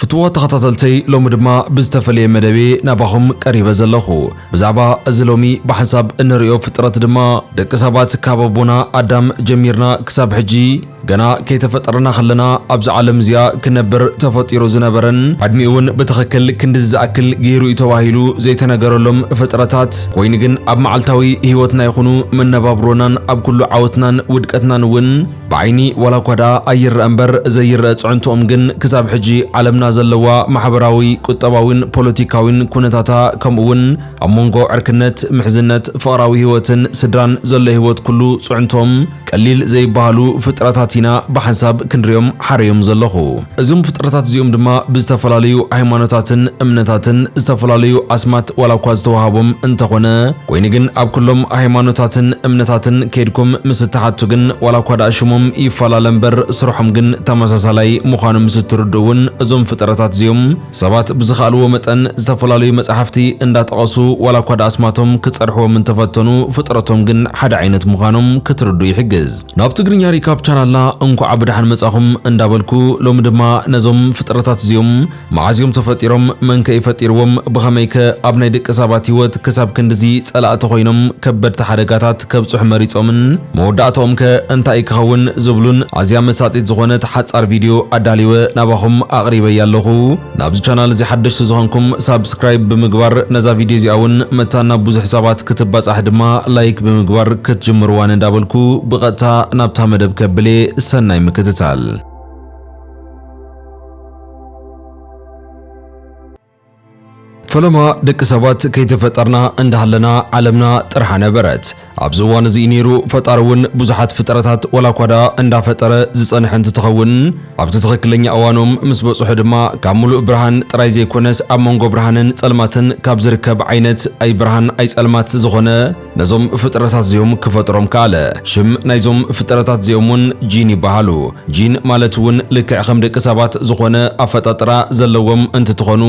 ፍትዎ ተኸታተልተይ ሎሚ ድማ ብዝተፈለየ መደቤ ናባኹም ቀሪበ ዘለኹ። ብዛዕባ እዚ ሎሚ ብሓንሳብ እንርእዮ ፍጥረት ድማ ደቂ ሰባት ካብ ኣቦና ኣዳም ጀሚርና ክሳብ ሕጂ ገና ከይተፈጠርና ከለና ኣብዚ ዓለም እዚኣ ክነብር ተፈጢሩ ዝነበረን ዕድሚኡውን ብትኽክል ክንድዚ ዝኣክል ገይሩ እዩ ተባሂሉ ዘይተነገረሎም ፍጥረታት ኮይኑ ግን ኣብ መዓልታዊ ህይወትና ይኹኑ መነባብሮናን ኣብ ኩሉ ዓወትናን ውድቀትናን እውን ብዓይኒ ዋላ እኳ ደኣ ኣይረኣ እምበር ዘይረኣ ፅዕንቶኦም ግን ክሳብ ሕጂ ዓለምና ዘለዋ ማሕበራዊ፣ ቁጠባዊን ፖለቲካዊን ኩነታታ ከምኡ እውን ኣብ ሞንጎ ዕርክነት፣ ምሕዝነት፣ ፍቕራዊ ህይወትን ስድራን ዘሎ ህይወት ኩሉ ፅዕንቶኦም ቀሊል ዘይበሃሉ ፍጥረታት ኢና ብሓንሳብ ክንሪኦም ሓረዮም ዘለኹ። እዞም ፍጥረታት እዚኦም ድማ ብዝተፈላለዩ ሃይማኖታትን እምነታትን ዝተፈላለዩ ኣስማት ዋላ እኳ ዝተዋሃቦም እንተኾነ ኮይኑ ግን ኣብ ኩሎም ሃይማኖታትን እምነታትን ከይድኩም ምስ እትሓቱ ግን ዋላ እኳ ደኣ ሽሞም ይፈላለ እምበር ስርሖም ግን ተመሳሳላይ ምዃኑ ምስ እትርድኡ እውን እዞም ፍጥረታት እዚኦም ሰባት ብዝኸኣልዎ መጠን ዝተፈላለዩ መጻሕፍቲ እንዳጠቐሱ ዋላኳ ድኣ ኣስማቶም ክጸርሕዎም እንተፈተኑ ፍጥረቶም ግን ሓደ ዓይነት ምዃኖም ክትርድኡ ይሕግዝ። ናብ ትግርኛ ሪካፕ ቻናልና እንኳዕ ብደሓን መጻኹም እንዳበልኩ ሎሚ ድማ ነዞም ፍጥረታት እዚኦም መዓዝ እዮም ተፈጢሮም መንከ እዩ ፈጢርዎም ብኸመይከ ኣብ ናይ ደቂ ሳባት ሂወት ክሳብ ክንድዚ ጸላእቲ ኮይኖም ከበድቲ ሓደጋታት ከብጽሑ መሪጾምን መወዳእታኦም ከ እንታይ ክኸውን ዝብሉን ኣዝያ መሳጢት ዝኾነት ሓጻር ቪድዮ ኣዳሊወ ናባኹም ኣቕሪበያ ኣለኹ። ናብዚ ቻናል እዚ ሓደሽቲ ዝኾንኩም ሳብስክራይብ ብምግባር ነዛ ቪድዮ እዚኣ ውን መታን ናብ ብዙሕ ሰባት ክትባጻሕ ድማ ላይክ ብምግባር ክትጅምርዋ ንዳበልኩ ብቐጥታ ናብታ መደብ ከብልየ ሰናይ ምክትታል። ፈለማ ደቂ ሰባት ከይተፈጠርና እንዳሃለና ዓለምና ጥርሓ ነበረት። ኣብዚ እዋን እዚ ነይሩ ፈጣሪ እውን ብዙሓት ፍጥረታት ዋላ እኳ ደኣ እንዳፈጠረ ዝጸንሐ እንትትኸውን ኣብቲ ትኽክለኛ እዋኖም ምስ በጽሑ ድማ ካብ ምሉእ ብርሃን ጥራይ ዘይኮነስ ኣብ መንጎ ብርሃንን ጸልማትን ካብ ዝርከብ ዓይነት ኣይብርሃን ኣይጸልማት ዝኾነ ነዞም ፍጥረታት እዚኦም ክፈጥሮም ከኣለ። ሽም ናይዞም ፍጥረታት እዚኦም እውን ጂን ይበሃሉ። ጂን ማለት እውን ልክዕ ከም ደቂ ሰባት ዝኾነ ኣፈጣጥራ ዘለዎም እንትትኾኑ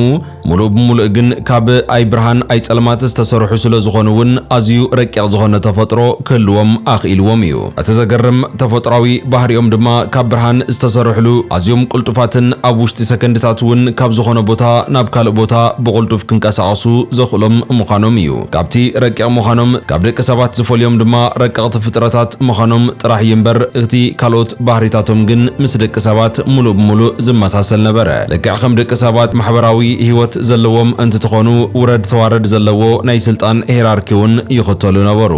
ሙሉእ ብሙሉእ ግን ካብ ኣይ ብርሃን ኣይ ፀልማት ዝተሰርሑ ስለዝኾኑ እውን ኣዝዩ ረቂቕ ዝኾነ ተፈጥሮ ክህልዎም ኣኽኢልዎም እዩ። እቲ ዘገርም ተፈጥሯዊ ባህሪኦም ድማ ካብ ብርሃን ዝተሰርሕሉ ኣዝዮም ቅልጡፋትን ኣብ ውሽጢ ሰከንድታት እውን ካብ ዝኾነ ቦታ ናብ ካልእ ቦታ ብቕልጡፍ ክንቀሳቐሱ ዘኽእሎም ምዃኖም እዩ። ካብቲ ረቂቕ ምዃኖም ካብ ደቂ ሰባት ዝፈልዮም ድማ ረቀቕቲ ፍጥረታት ምዃኖም ጥራሕ እዩ እምበር እቲ ካልኦት ባህሪታቶም ግን ምስ ደቂ ሰባት ሙሉእ ብሙሉእ ዝመሳሰል ነበረ። ልክዕ ከም ደቂ ሰባት ማሕበራዊ ህይወት ዘለዎም እንትትኾኑ ውረድ ተዋረድ ዘለዎ ናይ ስልጣን ሄራርኪ እውን ይኽተሉ ነበሩ።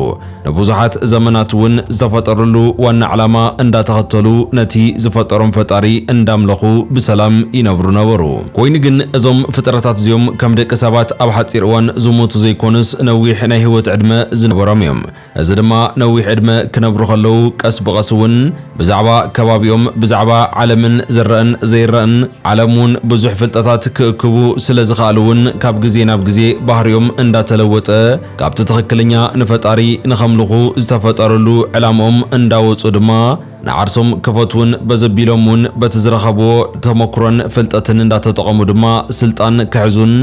ንብዙሓት ዘመናት እውን ዝተፈጠርሉ ዋና ዕላማ እንዳተኸተሉ ነቲ ዝፈጠሮም ፈጣሪ እንዳምለኹ ብሰላም ይነብሩ ነበሩ። ኮይኑ ግን እዞም ፍጥረታት እዚኦም ከም ደቂ ሰባት ኣብ ሓፂር እዋን ዝሞቱ ዘይኮኑስ ነዊሕ ናይ ህይወት ዕድመ ዝነበሮም እዮም። እዚ ድማ ነዊሕ ዕድመ ክነብሩ ከለው ቀስ ብቐስ እውን ብዛዕባ ከባቢኦም፣ ብዛዕባ ዓለምን ዝረእን ዘይረእን ዓለም እውን ብዙሕ ፍልጠታት ክእክቡ ስለዝኸኣሉ እውን ካብ ግዜ ናብ ግዜ ባህሪኦም እንዳተለወጠ፣ ካብቲ ትኽክልኛ ንፈጣሪ ንኸምልኹ ዝተፈጠርሉ ዕላምኦም እንዳወጹ ድማ ንዓርሶም ክፈትዉን በዘቢሎም እውን በቲ ዝረኸብዎ ተሞክሮን ፍልጠትን እንዳተጠቐሙ ድማ ስልጣን ክሕዙን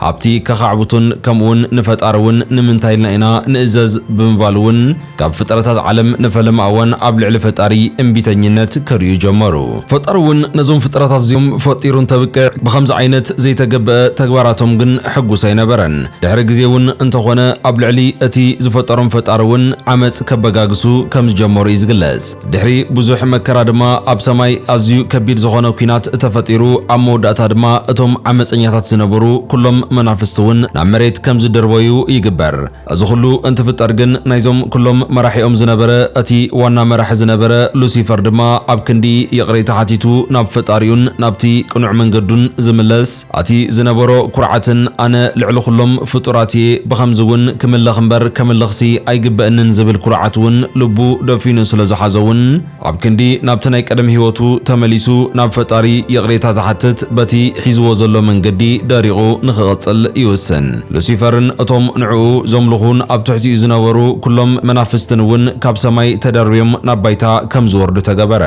ሃብቲ ከኻዕብቱን ከምኡውን ንፈጣሪ እውን ንምንታይ ኢልና ኢና ንእዘዝ ብምባል እውን ካብ ፍጥረታት ዓለም ንፈለማ እዋን ኣብ ልዕሊ ፈጣሪ እምቢተኝነት ከርእዩ ጀመሩ። ፈጣሪ እውን ነዞም ፍጥረታት እዚኦም ፈጢሩ እንተብቅዕ ብኸምዚ ዓይነት ዘይተገበኣ ተግባራቶም ግን ሕጉስ ኣይነበረን። ድሕሪ ግዜ እውን እንተኾነ ኣብ ልዕሊ እቲ ዝፈጠሮም ፈጣሪ እውን ዓመጽ ከበጋግሱ ከም ዝጀመሩ እዩ ዝግለጽ። ድሕሪ ብዙሕ መከራ ድማ ኣብ ሰማይ ኣዝዩ ከቢድ ዝኾነ ኲናት ተፈጢሩ፣ ኣብ መወዳእታ ድማ እቶም ዓመጸኛታት ዝነበሩ ኩሎም መናፍስቲ እውን ናብ መሬት ከም ዝድርበዩ ይግበር። እዚ ኩሉ እንትፍጠር ግን ናይዞም ኩሎም መራሒኦም ዝነበረ እቲ ዋና መራሒ ዝነበረ ሉሲፈር ድማ ኣብ ክንዲ ይቕሬታ ሓቲቱ ናብ ፈጣሪኡን ናብቲ ቅኑዕ መንገዱን ዝምለስ ኣቲ ዝነበሮ ኩርዓትን ኣነ ልዕሊ ኩሎም ፍጡራት እየ ብኸምዚ እውን ክምለኽ እምበር ከምልኽሲ ኣይግበእንን ዝብል ኩርዓት እውን ልቡ ደፊኑ ስለዝሓዞ እውን ኣብ ክንዲ ናብቲ ናይ ቀደም ህይወቱ ተመሊሱ ናብ ፈጣሪ ይቕሬታ ዝሓትት በቲ ሒዝዎ ዘሎ መንገዲ ደሪቑ ንኽቕጽል ይውስን። ሉሲፈርን እቶም ንዕኡ ዘምልኹን ኣብ ትሕቲኡ ዝነበሩ ኩሎም መናፍስትን እውን ካብ ሰማይ ተደርብዮም ናብ ባይታ ከም ዝወርዱ ተገበረ።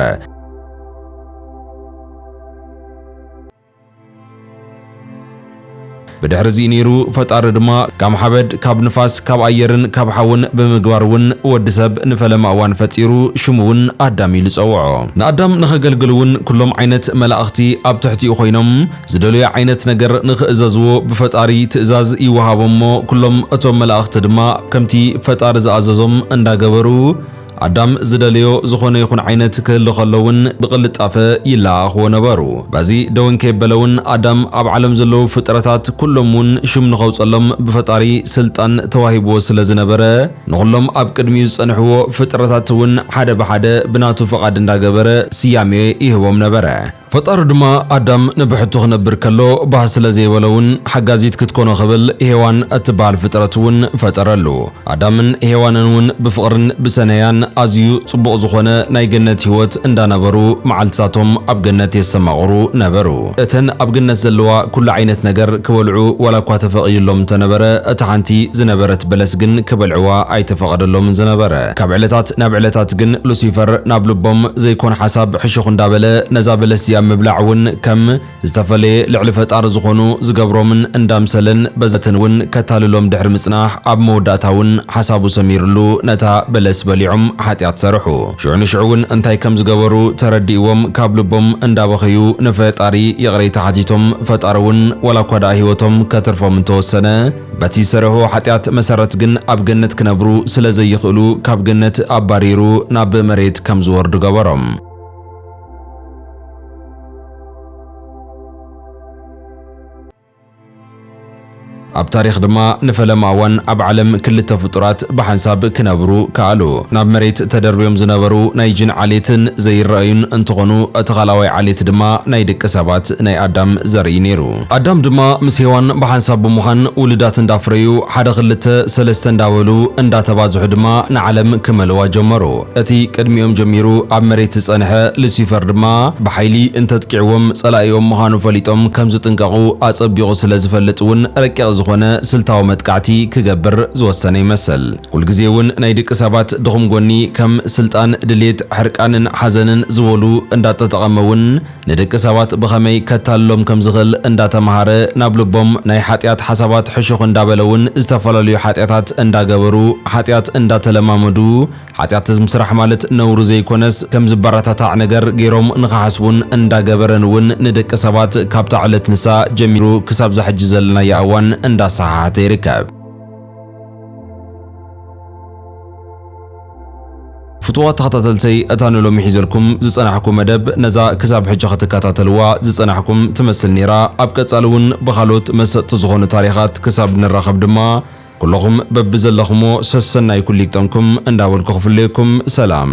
ብድሕሪ እዚ ነይሩ ፈጣሪ ድማ ካብ ሓበድ ካብ ንፋስ ካብ ኣየርን ካብ ሓውን ብምግባር እውን ወዲ ሰብ ንፈለማ እዋን ፈጢሩ ሽሙ እውን ኣዳም ኢሉ ጸውዖ። ንኣዳም ንኸገልግል እውን ኩሎም ዓይነት መላእኽቲ ኣብ ትሕቲኡ ኮይኖም ዝደለዮ ዓይነት ነገር ንኽእዘዝዎ ብፈጣሪ ትእዛዝ ይወሃቦም እሞ ኩሎም እቶም መላእኽቲ ድማ ከምቲ ፈጣሪ ዝኣዘዞም እንዳገበሩ ኣዳም ዝደለዮ ዝኾነ ይኹን ዓይነት ክህሉ ከሎ እውን ብቕልጣፈ ይለኣኣኽዎ ነበሩ። በዚ ደወን ከየበለ እውን ኣዳም ኣብ ዓለም ዘለዉ ፍጥረታት ኩሎም እውን ሹም ንኸውፀሎም ብፈጣሪ ስልጣን ተዋሂብዎ ስለ ዝነበረ ንኹሎም ኣብ ቅድሚኡ ዝፀንሕዎ ፍጥረታት እውን ሓደ ብሓደ ብናቱ ፍቓድ እንዳገበረ ስያሜ ይህቦም ነበረ። ፈጣሪ ድማ ኣዳም ንብሕቱ ክነብር ከሎ ባህ ስለ ዘይበሎ ውን ሓጋዚት ክትኮኖ ክብል ሄዋን እትበሃል ፍጥረት ውን ፈጠረሉ። ኣዳምን ሄዋንን ውን ብፍቕርን ብሰነያን ኣዝዩ ጽቡቕ ዝኾነ ናይ ገነት ህይወት እንዳ ነበሩ መዓልትታቶም ኣብ ገነት የሰማቕሩ ነበሩ። እተን ኣብ ገነት ዘለዋ ኩሉ ዓይነት ነገር ክበልዑ ዋላ እኳ ተፈቒድሎም እንተ ነበረ እታ ሓንቲ ዝነበረት በለስ ግን ክበልዕዋ ኣይተፈቐደሎምን ዝነበረ። ካብ ዕለታት ናብ ዕለታት ግን ሉሲፈር ናብ ልቦም ዘይኮን ሓሳብ ሕሹኽ እንዳበለ ነዛ በለስ እዚኣ ምብላዕ እውን ከም ዝተፈለየ ልዕሊ ፈጣሪ ዝኾኑ ዝገብሮምን እንዳምሰለን በዘተን እውን ከታልሎም ድሕሪ ምጽናሕ ኣብ መወዳእታ እውን ሓሳቡ ሰሚርሉ ነታ በለስ በሊዖም ሓጢኣት ሰርሑ። ሽዑ ንሽዑ እውን እንታይ ከም ዝገበሩ ተረዲእዎም ካብ ልቦም እንዳበኸዩ ንፈጣሪ ይቕሬታ ሓቲቶም ፈጣሪ እውን ዋላ እኳ ደኣ ህይወቶም ከትርፎም እንተወሰነ በቲ ዝሰረሕዎ ሓጢኣት መሰረት ግን ኣብ ገነት ክነብሩ ስለ ዘይኽእሉ ካብ ገነት ኣባሪሩ ናብ መሬት ከም ዝወርዱ ገበሮም። ኣብ ታሪኽ ድማ ንፈለማ እዋን ኣብ ዓለም ክልተ ፍጡራት ብሓንሳብ ክነብሩ ከኣሉ። ናብ መሬት ተደርብዮም ዝነበሩ ናይ ጂን ዓሌትን ዘይረኣዩን እንትኾኑ እቲ ካልኣዋይ ዓሌት ድማ ናይ ደቂ ሰባት ናይ ኣዳም ዘርኢ ነይሩ። ኣዳም ድማ ምስ ሄዋን ብሓንሳብ ብምዃን ውሉዳት እንዳፍረዩ ሓደ ክልተ ሰለስተ እንዳበሉ እንዳተባዝሑ ድማ ንዓለም ክመልእዋ ጀመሩ። እቲ ቅድሚኦም ጀሚሩ ኣብ መሬት ዝጸንሐ ሉሲፈር ድማ ብሓይሊ እንተጥቂዕዎም ጸላኢኦም ምዃኑ ፈሊጦም ከም ዝጥንቀቑ ኣጸቢቑ ስለ ዝፈልጥ እውን ረቂቕ ዝኾነ ስልታዊ መጥቃዕቲ ክገብር ዝወሰነ ይመስል። ኩልግዜ እውን ናይ ድቂ ሰባት ድኹም ጎኒ ከም ስልጣን፣ ድሌት፣ ሕርቃንን ሓዘንን ዝበሉ እንዳጠጠቐመ እውን ንደቂ ሰባት ብኸመይ ከታልሎም ከም ዝኽእል እንዳ ተመሃረ ናብ ልቦም ናይ ሓጢኣት ሓሳባት ሕሹኽ እንዳ በለ እውን ዝተፈላለዩ ሓጢኣታት እንዳ ገበሩ ሓጢኣት እንዳ ተለማመዱ ሓጢኣት ምስራሕ ማለት ነውሪ ዘይኮነስ ከም ዝበረታታዕ ነገር ገይሮም ንኽሓስቡን እንዳ ገበረን እውን ንደቂ ሰባት ካብታ ዕለት ንሳ ጀሚሩ ክሳብ እዛ ሕጂ ዘለናያ እዋን እንዳ ኣሰሓሓተ ይርከብ። ፍቱዋት ተኸታተልተይ እታ ንሎሚ ሒዘልኩም ዝጸናሕኩ መደብ ነዛ ክሳብ ሕጂ ክትከታተልዋ ዝጸናሕኩም ትመስል ኔራ ኣብ ቀጻሊ ውን ብኻልኦት መሰጥቲ ዝኾኑ ታሪኻት ክሳብ ንራኸብ ድማ ኩሎኹም በብዘለኽሞ ሰሰናዩ ኩሉ ይግጠምኩም እንዳበልኩ ክፍለየኩም ሰላም